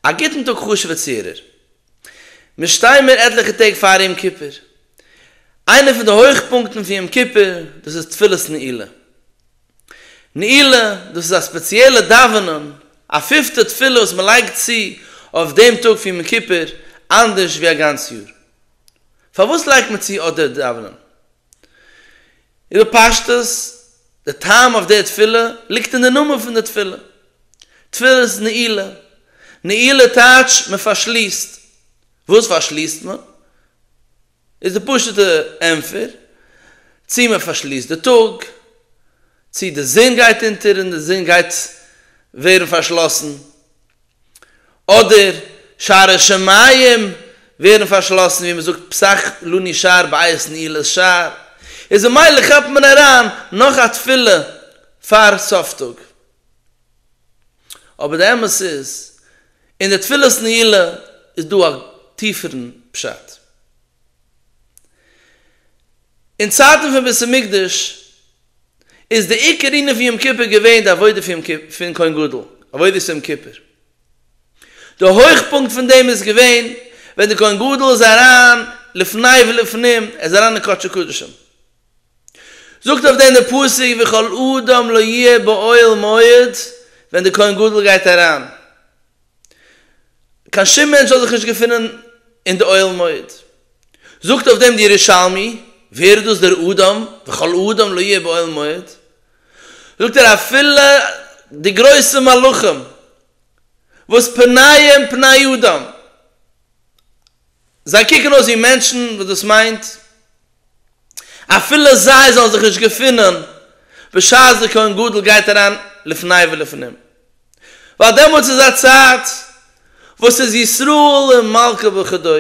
א גוטן טאג חשוב'ע צוהערער. מיר שטייען מיר עטליכע טעג פאר יום כיפור. איינע פון די הויכפונקטן פון יום כיפור דאס איז תפילת נעילה. נעילה, דאס איז א ספעציעלע דאווענען, א פיפטע תפילה וואס מען לייגט צו אויף דעם טאג פון יום כיפור אנדערש ווי א גאנץ יאר. פארוואס לייגט מען צו אט דער דאווענען? בפשטות, די טעם אויף דער תפילה ליגט אין דער נאמען פון דער תפילה, תפילת נעילה. נעילה טייטש מען פארשליסט. וואס פארשליסט מען? איז די פשוט'ע ענטפער, צי מען פארשליסט די טאג, צי די זון גייט אונטער און די זון גייט ווערן פארשלאסן, אדער שערי שמים ווערן פארשלאסן ווי מ'זאגט פסח לא נשאר בית נעילת שער, איז ממילא כאפט מען אריין נאך א תפילה פאר סוף טאג. אבער די אמת איז, אין די תפילת נעילה איז דא א טיפערן פשט. אין צייטן פון בית המקדש איז די עיקר ענין פון יום כיפור געווען די עבודה פון כהן גדול, עבודת יום כיפור. די הויכפונקט פון דעם איז געווען ווען די כהן גדול איז אריין לפני ולפנים, ער איז אריין אין קדשי קדשים. זאגט אויף דעם דער פסוק וכל אדם לא יהיה באוהל מועד ווען די כהן גדול גייט אריין קיין שום מענטש זאל זיך נישט געפונען אין די אוהל מועד. זאגט אויף דעם די ירושלמי, ווער איז דאס דער אדם, וכל אדם לא יהיה באוהל מועד? זאגט ער אפילו די גרויסע מלאכים וואס פניהם פני אדם, זיי קוקן אויס ווי מענטשן, וואס דאס מיינט אפילו זיי זאלן זיך נישט געפינען בשעת דער כהן גדול גייט אריין לפני ולפנים, ווייל דעמאלטס איז א צייט וואס איז ישראל און מלכה וכדו',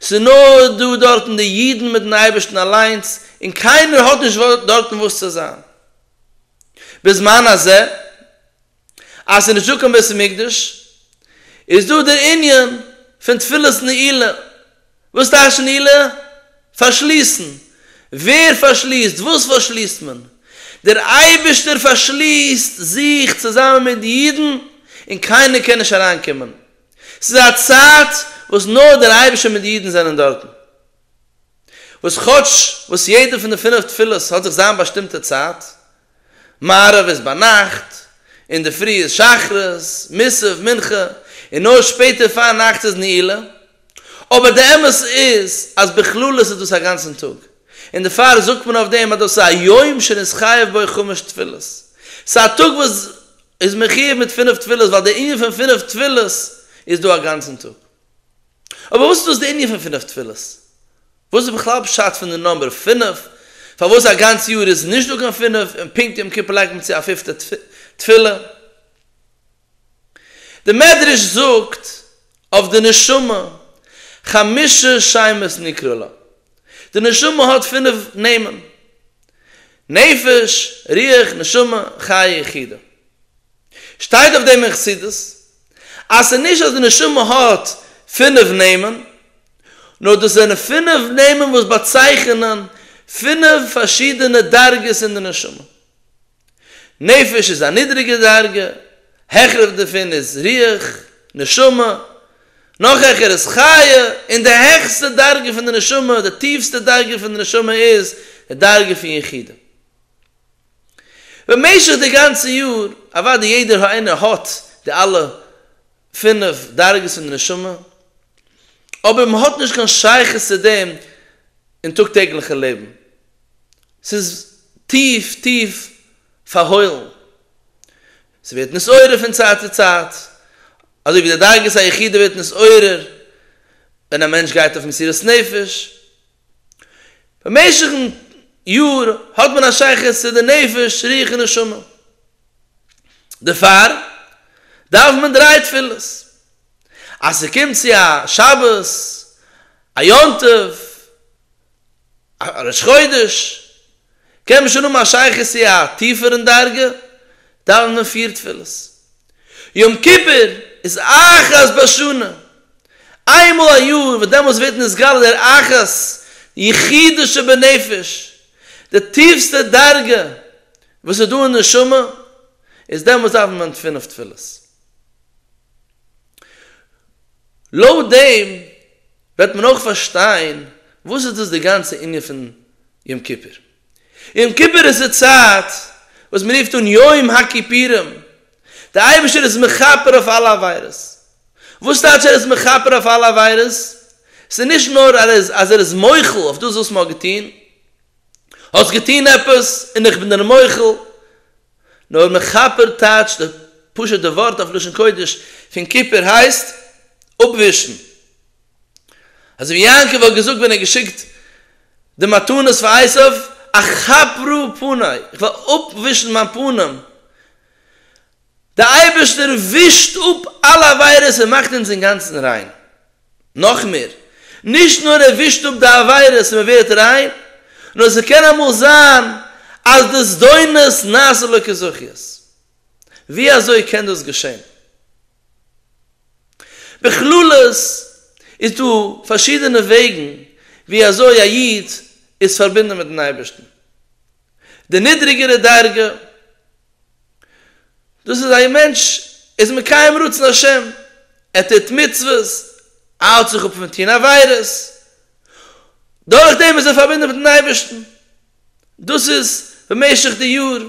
ס'איז נאר דא דארטן די אידן מיטן אייבערשטן אליינס, און קיינער האט נישט דארטן וואס צו זיין בזמן הזה, אז ס'איז נישטא קיין בית המקדש, איז דא דער ענין פון תפילת נעילה, וואס טייטש נעילה? פארשליסן. ווער פארשליסט? וואס פארשליסט מען? דער אייבערשטער פארשליסט זיך צוזאמען מיט די אידן און קיינער קען נישט אריינקומען. ס'איז א צייט וואס נאר דער אייבערשטער מיט די אידן זענען דארטן. וואס כאטש וואס יעדע פון די פינף תפילות האט זיך זיין באשטימטע צייט, מעריב איז ביינאכט, אינדערפרי איז שחרית, מוסף, מנחה, און נאר שפעטער פארנאכטס איז נעילה. אבער די אמת איז אז בכללות איז דאס א גאנצן טאג, און דערפאר זאגט מען אויף דעם אז דאס איז א יום שנתחייב בו חמש תפילות. ס'איז א טאג וואס איז מחיוב מיט פינף תפילות ווייל דער ענין פון פינף תפילות איז דא א גאנצן טאג. אבער וואס איז דאס דער ענין פון פינף תפילות? וואס איז בכלל פשט פון די נומבער פֿינף? פארוואס א גאנץ יאר איז נישט דא קיין פֿינף און פונקט יום כיפור לייגט מען צו א פופטע תפילה? די מדרש זאגט אויף די נשמה, חמשה שמות נקרא לה, די נשמה האט פֿינף נעמען, נפש, רוח, נשמה, חיה, יחידה. שטייט אויף דעם אין חסידות, אז ס'נישט אז די נשמה האט פֿינף נעמען, נאר דאס זענען פינף נעמען וואס באצייכענען פינף פארשידענע דרגות אין די נשמה. נפש איז א נידריגע דרגה, העכער דערפון איז רוח, נשמה, נאך העכער איז חיה, און די העכסטע דרגה פון די נשמה, די טיפסטע דרגה פון די נשמה איז די דרגה פון יחידה. במשך די גאנצע יאר, אוואדי יעדער איינער האט די אלע. פינף דרגות אין די נשמה, אבער מען האט נישט קיין שייכות צו דעם אין טאג טעגליכע לעבן, ס'איז טיף טיף פארהוילן, ס'ווערט נתעורר פון צייט צו צייט, אזוי ווי די דרגת היחידה ווערט נתעורר ווען א מענטש גייט אויף מסירת נפש, במשך'ן יאר האט מען א שייכות צו די נפש, רוח און נשמה. דערפאר דארף מען דריי תפילות. אז ס'קומט צו א שבת, א יום טוב, א ראש חודש, קען מען שוין האבן א שייכות צו א טיפערן דרגה, דאוונט מען פיר תפילות. יום כיפור איז אחת בשנה, איין מאל א יאר, וואס דעמאלטס ווערט נתגלה דער אחת יחידה שבנפש, די טיפסטע דרגה וואס איז דא אין נשמה, איז דעמאלטס דאוונט מען פינף תפילות. לויט דעם וועט מען אויך פארשטיין וואס איז דאס די גאנצע ענין פון יום כיפור. יום כיפור איז די צייט וואס מען רופט אן יום הכיפורים, די אייבערשטער איז מכפר אויף אלע עבירות. וואס טייטש ער איז מכפר אויף אלע עבירות? ס'איז נישט נאר אז ער איז מוחל אויף דאס וואס מען האט געטון, האסט געטון עפעס און איך בין דיר מוחל, נאר מכפר טייטש די פשוטע ווארט אויף לשון קודש פון כיפור הייסט אפווישן. אזוי ווי יעקב האט געזאגט ווען ער האט געשיקט די מתנות פאר עשיו אכפרו פני איך וועל אפווישן מיין פנים. דער אייבערשטער ווישט אפ אלע עבירות און מאכט אונז אינגאנצן ריין. נאך מער, נישט נאר ער ווישט אפ די עבירות און מען ווערט ריין, נאר ס'קען אמאל זיין אז די זדונות נעשה לו כזכיות. ווי אזוי קען דאס געשען? בכללות איז דא פארשידענע וועגן ווי אזוי א איד איז פארבינדן מיט'ן אייבערשטן. די נידריגערע דרגה. דאס איז א מענטש איז מקיים רצון השם, ער טוט מצוות, האלט זיך אפ פון טון עבירות, דורך דעם איז ער פארבינדן מיטן אייבערשטן, דאס איז במשך די יאר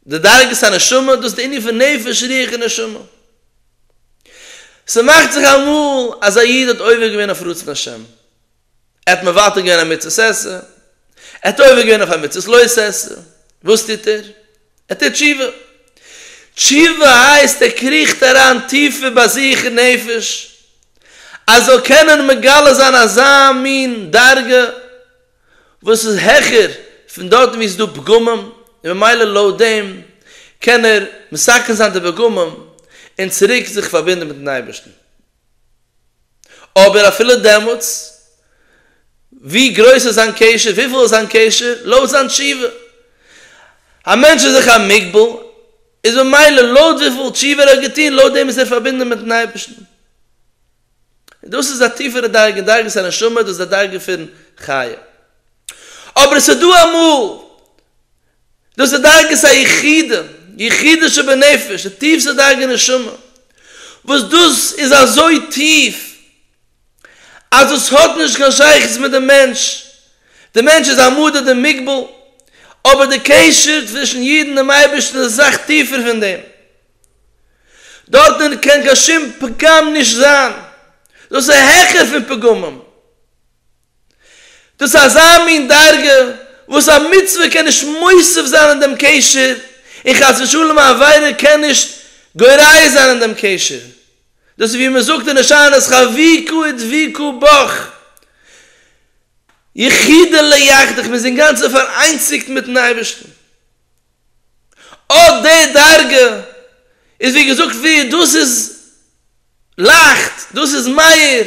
די דרגת הנשמה, דאס איז די ענין פון נפש רוח און נשמה. ס'מאכט זיך אמאל אז א איד האט עובר געווען אויף רצון השם. ער האט מוותר געווען א מצות עשה, ער האט עובר געווען אויף א מצות לא עשה, וואס טוט ער? ער טוט תשובה, תשובה הייסט ער קריכט אריין טיפער ביי זיך אין נפש, ער זאל קענען מגלה זיין אזא מין דרגה וואס איז העכער פון דארטן וואו עס איז דא פגמים, און ממילא לויט דעם קען ער מסכם זיין די פגמים און צוריק זיך פארבינדן מיטן אייבערשטן. אבער אפילו דעמאלטס, ווי גרויס איז זיין קשר, וויפיל איז זיין קשר, לויט זיין תשובה. א מענטש איז זיך א מוגבל, איז ממילא לויט וויפיל תשובה ער האט געטון, לויט דעם איז ער פארבינדן מיטן אייבערשטן. און דאס איז א טיפערע דרגה, דרגת הנשמה, דאס איז די דרגה פון חיה. אבער עס איז דא אמאל דאס איז דרגת היחידים, יחידים שבנפש, די טיפסטע דרגה נשמה, וואס דאס איז אזוי טיף אז דאס האט נישט קיין שייכות מיט די מענטש, די מענטש איז א מודד ומגביל, אבער די קשר צווישן איד און דעם אייבערשטן איז אסאך טיפער פון דעם, דארטן קען קיין שום פגם נישט זיין, דאס איז העכער פון פגמים. דאס איז אזא מין דרגה וואס א מצוה קען נישט מוסיף זיין אין דעם קשר, און חס ושלום א עבירה קען נישט גורע זיין אין דעם קשר. דאס איז ווי מען זאגט אין הושענות חביכו ודביקו בך, יחידא לא יחדך, מען איז אינגאנצן פאראיינציגט מיט'ן אייבערשטן. אט די דרגה איז ווי געזאגט ווי דאס איז לייכט, דאס איז מאיר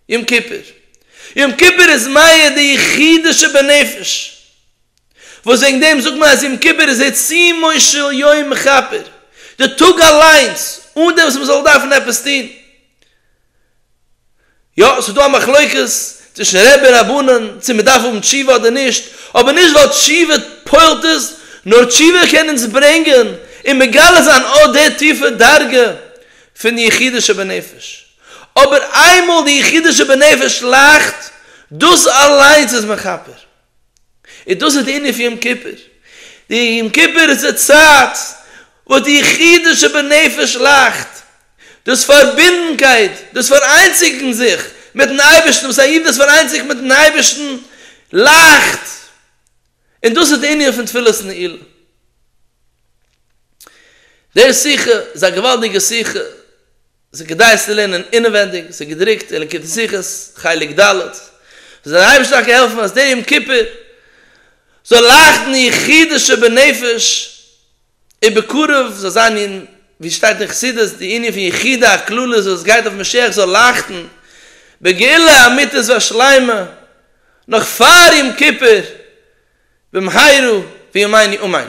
יום כיפור, יום כיפור איז מאיר די יחידה שבנפש, וואס וועגן דעם זאגט מען אז יום כיפור איז עיצומו של יום מכפר, די טאג אליינס אן דעם וואס מען זאל דארפן עפעס טון, יא, ס'איז דא א מחלוקת צווישן רעבע און רבנן צו מען דארף האבן תשובה אדער נישט, אבער נישט ווייל תשובה פועל'ט עס, נאר תשובה קען אונז ברענגען און מגלה זיין אט די טיפע דרגה פון די יחידה שבנפש. אבער איינמאל די יחידה שבנפש לאכט, דאס אליינס איז מכפר. און דאס איז די ענין פון יום כיפור, די יום כיפור איז די צייט וואס די יחידה שבנפש לאכט, דאס פארבינדנקייט, דאס פאראיינציגן זיך מיטן אייבערשטן, וואס א איד איז פאראיינציגט מיטן אייבערשטן, לאכט, און דאס איז די ענין פון תפילת נעילה. די שיחה איז א געוואלדיגע שיחה. ס'איז כדאי עס צו לערנען אינעווענדיג, ס'איז געדרוקט אין ליקוטי שיחות, חלק ד', זאל דיר אייבערשטער טאקע העלפן אז די יום כיפור זאל לייכטן יחידי שבנפש, און בקרוב זאל זיין אין ווי שטייט אין חסידות די ענין פון יחידי הכללי זאל עס גייט אויף משיח זאל לייכטן בגאולה אמיתית והשלימה נאך פאר יום כיפור במהרה בימינו אמן.